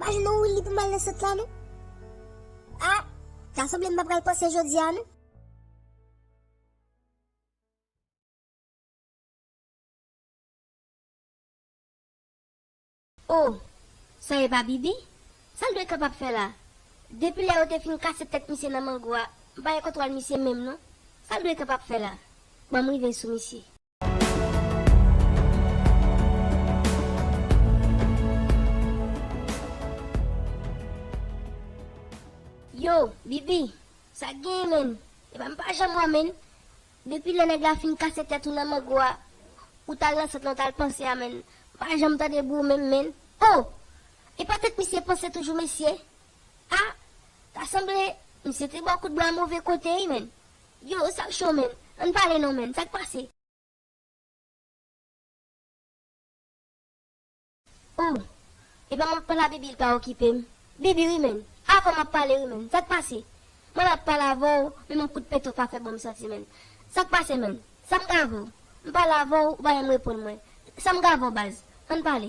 Bagay nou ou li pou mal nan sot la non. Ah ta sanble m pa pral panse jodia non. Oh sa e pa bibi? Sa l dwe kapab fè la? Depi lè yo te fin kase tèt misye nan mango a m pa gen kontwòl misye menm non. Sa l dwe kapab fè la? Ban m rive sou misye. Yo, Bibi, sa k genyen menm? Epa m pa janm wè menn. Depi lè nèg la fin kase tèt ou nan mango a, ou t al nan sant lan w t al panse a menn. M pa janm tande bri w menm menn. O! Epa tèt misye panse toujou mesye? Ah ta sanble misye te baw kout bra move kote wi menn. Yow sak cho menn ann pale non menn sak pase. Ooh e pa map pala bibi l pa okipe m bibi wi menn avèw map pale wi menn sak pase mwen la pale avèw menm yon kout peto pa fè bon m santi menn sak pase menn sam ka avèw m pale avèw ou pa janm reponn mwen sam ka avèw baz ann pale.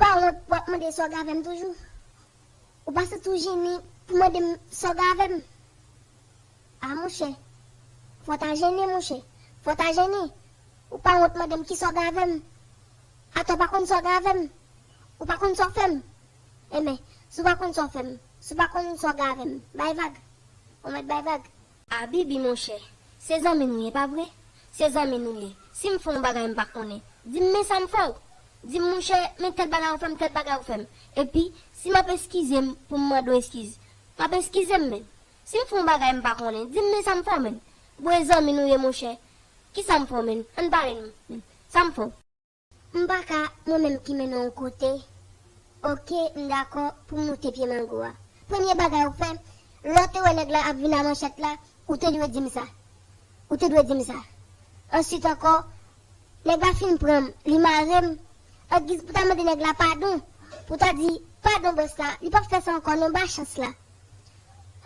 Pa wont pou wap mande sa w gen avè m toujou? Ou pa santi w jennen pou mande m sa w gen avè m? A monchè, fò w ta jennen monchè, fò w ta jennen! Ou pa wont mande m kisa w gen avè m? Atò w pa konn sa w gen avè m? Ou pa konn sa w fè m? Enben, si w pa konn sa w fè m, si w pa konn sa w gen avè m, bay vag! Ou mèt bay vag! Abibi monchè, se zanmi nou ye, pa vre? Se zanmi nou ye. Si m fè yon bagay m pa konnen, di m men sa m fè w. Di m monchè, men tèl bagay ou fè m, tèl bagay ou fè m. Epi, si m ap eskize m pou m mande w eskiz, m ap eskize m menn. Si m fè yon bagay m pa konnen, di m men sa m fè w menn. Bon e zanmi nou ye monchè. Kisa m fè w menn? Ann pale n menn. Sa m fè w? M paka mwen menm ki mennen w kote ok m dakò pou m moute pye mango a premye bagay ou fè lè w te wè nèg la ap vin a manchèt la ou te dwe di m sa ou te dwe di m sa answit ankò nèg la fin pran m li mare m an giz pou ta mande nèg la padon pou ta di padon bòs la li pap fè sa ankò non ba chans la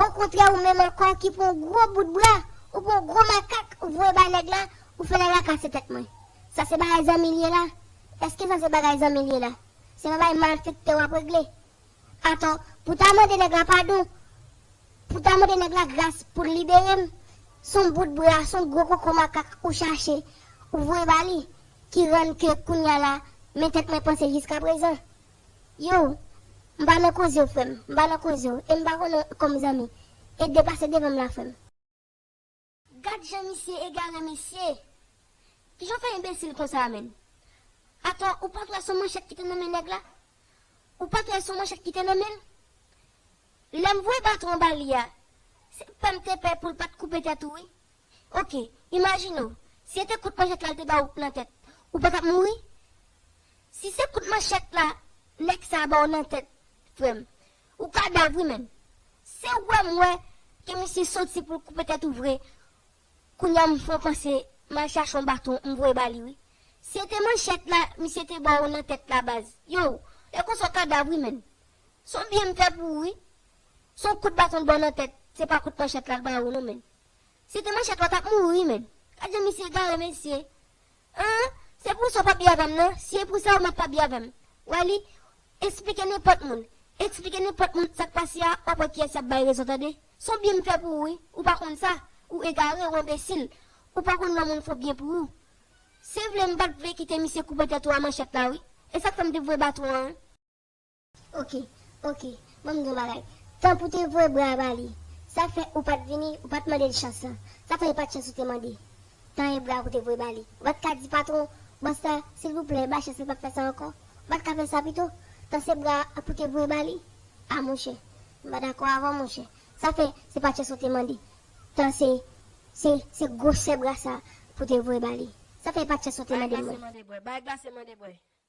okontrè ou menm ankò ki pran w gwo bout bra ou pran w gwo makak ou voye bay nèg la ou fè nèg la kase tèt mwen. Sa se bagay zanmi liye la? Eske sa se bagay zanmi liye la? Se pa bay malfektè wap regle? Atò pou ta mande nèg la padon, pou ta mande nèg la gras poul liberem, son bout bra, son gwo koko makak ou chache, ou voye ba li, ki rann ke kounya la men tèt mwen panse jiska prezan. Yow, m pa nan kozew frèm, m pa nan kozew, em pa konnen kom zanmi, e de pase devanm la frèm. Gad jan misye egare mesye. Kijan w fè enbesil konsa menn. Atò ou pat wè son manchèt ki te nan men nèg la? Ou pat wè son manchèt ki te nan men l? Lèm voye baton an ba li a, se pèm te pè poul pat koupe tèt ou wi. Ok, imajine w, si e te kout manchèt la l te ba w nan tèt, ou pa tap mouri? Si se kout manchèt la nèg sa a ba w nan tèt frè m, Ou kadav wi menn. Se wèm wè ke misye soti poul koupe tèt ou vre kounya m fon panse mal chache yon baton m voye bali wi se te manchèt la misye te baw nan tèt la baz yow lè konsa w kadav wi menn son byen m fè pou ou wi son kout baton l baw nan tèt se pa kout manchèt la l baw non menn Se te manchèt lòt ap mouri menm. Gad jan misye egare mesye. An, se pou sa w pa byen avè m nan, si e pou sa ou mèt pa byen avè m. Wè li, esplike nenpòt moun, esplike nenpòt moun sa k pase a w ap wè kiyès y ap bay rezon tande. S on byen m fè pou ou wi, ou pa konn sa, ou egare, ou enbesil, ou pa konn lò moun fò byen pou ou. Se vle m pa t vle kite misye koupe tèt ou a manchèt la wi, e sa k fè m te voye baton an wi. Ok ok banm di yon bagay tan pou te voye bra ba li sa fè ou pat vini ou pat mandel chans lan sa fè e pat chans ou te mande tan e bra pou te voye ba li ou pat ka di patron bòs la silvouplè ba chans li pap fè sa ankò ou pat ka fè sa pito tan se bra a pou te voye ba li a monchè m pa dakò avèw monchè sa fè se pa chans ou te mande tan se se se gwosè bra sa pou te voye ba li sa fè e pat chans ou te mande mwen. Bay glase mande bwè.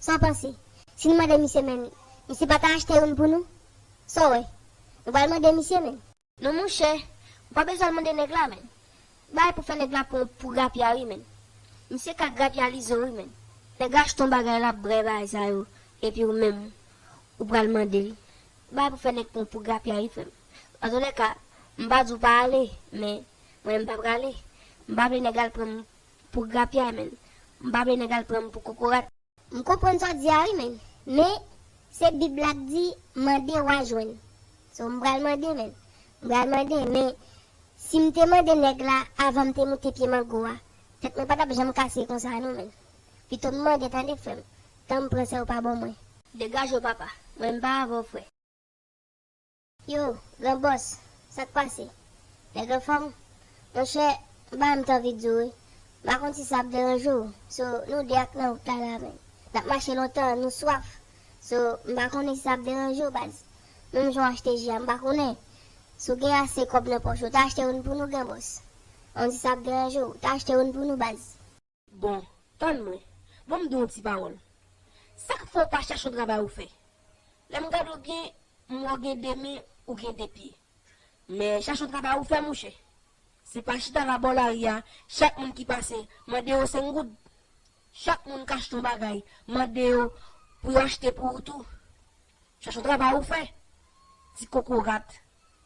Sa w panse? Si nou mande misye menm, misye pa ta achte youn pou nou? Sa w wè? Nou pral mande misye menm? Non monchè, ou pa bezwen al mande nèg la menm. Bagay pou fè nèg la pran w pou grapya wi menm. Misye ka grapya Lizo wi menm. Nèg la achte yon bagay lap brè bagay sa yo epi ou menm ou pral mande l. Bagay pou fè nèg pran w pou grapya wi frè m. Antolèka, m pa di w pa ale, men mwen menm m pa prale. M pa vle nèg al pran m Pou grapyay menn. M pa vle nèg al pran m pou kokorat. M konprann sa w di a wi menn. Men, se Bib la k di, mande w a jwenn. So m pral mande menn. M pral mande. Men, si m te mande nèg la avan m te moute pye mango a, tèt mwen pa t ap janm kase konsa non menn. Pito m mande tande frè m. Tan m pran sa yo pa bon mwen. Degaje w papa. Mwen m pa avè w frè. Yo, gran bòs, sa k pase? Nèg anfòm? Monchè, m pa menm t anvi di w wi. M pa konn si sa ap deranje w. So, nou de ak nan wout la la menn. N ap mache lontan, nou swaf. So, m pa konnen si sa ap deranje w baz. Menm jan w achte ji a, m pa konnen. Si w gen ase kòb nan pòch ou, ta achte youn pou nou, gran bòs. An di sa ap deranje w, ta achte youn pou nou baz. Bon, tann mwen. Bon m di w yon ti pawòl. Sa k fè w pa chèche yon travay ou fè? Lè m gade w byen, m wè w gen de men, ou gen de pye. Men, chèche yon travay ou fè, mouche. Se pa chita la bò lari a, chak moun ki pase, mande yo senk goud. Chak moun k achte yon bagay, mande yo pou yo achte pou ou tou. Chèche yon travay ou fè, ti kokorat,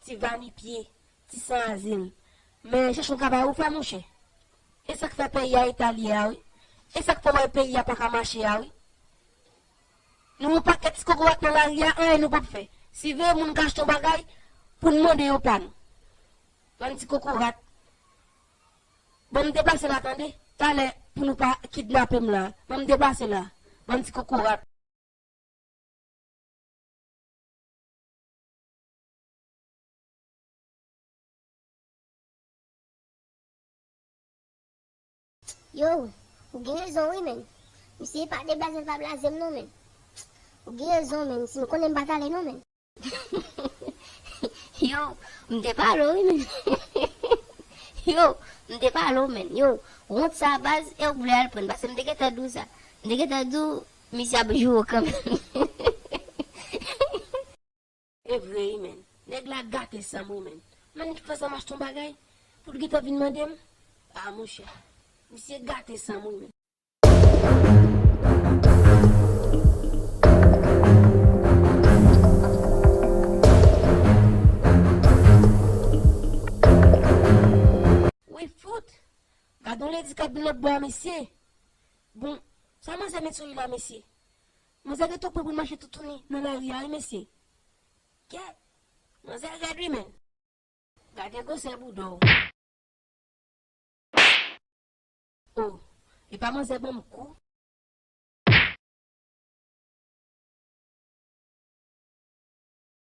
ti vanipye, Ti san azil. Men chèche yon travay ou fè monchè. E sak fè peyi a eta li ye a wi. E sak fè ou wè peyi a paka mache a wi. Nou yon pakèt ti kokorat nan lari a anyen nou pap fè. Siveye moun k achte yon bagay pou n mande yo pa nou. Bann ti kokorat. Bon m depase la tande. Talè pou nou pa kidnape m la. Bon m depase la. Bann ti kokorat. T yow ou gen rezon wi menn misye pa deblaze l pa blaze m non menn T ou gen rezon menn si m konnen m pa t ale non menn. T yow m te pa ale w wi menn T yow m te pa ale w menn yow wont sa baz e w vle al pran pase m te gentan di w sa m te gentan di w misye ap joure kanmenm. Evre ui menn. Neg la gate sanm ui menn. Manik fè sanm achte yon bagay poul gentan vin mandem ah monchè misye gate sanm ui menn. Wi fout. Gadon lady kap vin lòtbò a mesye. Bon Sa manzè met sou li la mesye. Manzè rete pran poul mache toutouni nan lari a wi mesye K manzè rèd wi menn. Gade gwosè boudaw. Oh epa manzè banm kou.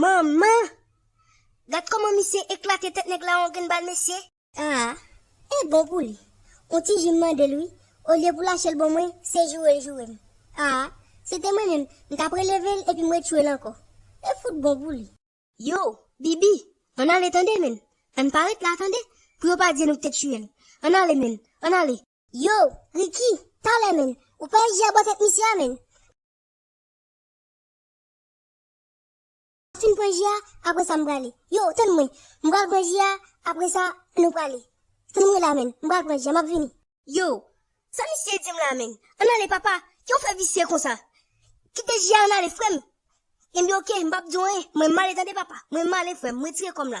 Manman! Gad koman misye eklate tèt nèg la on grenn bal mesye. Aa e bon pou li on ti jus m mande l wi olye pou lache l bon mwen se joure l joure m aa se te mwen menm m tap releve l epi m retchwe l ankò e fout bon pou li. Yo, Bibi, ann ale tande menn, ann pa ret la tande, pou yo pa di nou k te tiye l, ann ale menn, ann ale. Yo, Ricky, talè menn, ou pa eji a bò tèt misye a menn. M fin pran ji a, apre sa m prale. Yo, tann mwen. M pral pran ji a, apre sa, nou prale. Tann mwen la menn. M pral pran ji a, m ap vini. Yo, sa misye di m la menn. Ann ale papa, ki yon frè visye konsa. Kite ji a ann ale frè m. Ebyen oke, m p ap di w anyen. Mwen m ale tande papa. Mwen m ale frè m. M retire kò m la.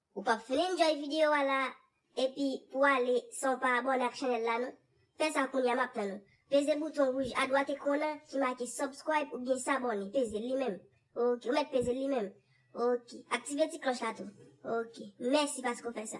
Ou pap fin enjoy video a la epi pou ale san w pa abone ak chanel la non. Fè sa kounya map tann ou. Peze bouton rouj adwat ekran nan ki make subscribe oubyen s'abonner pezel li menm ok ou mèt pezel li menm ok aktive ti klòch la tou ok mèsi paske w fè sa.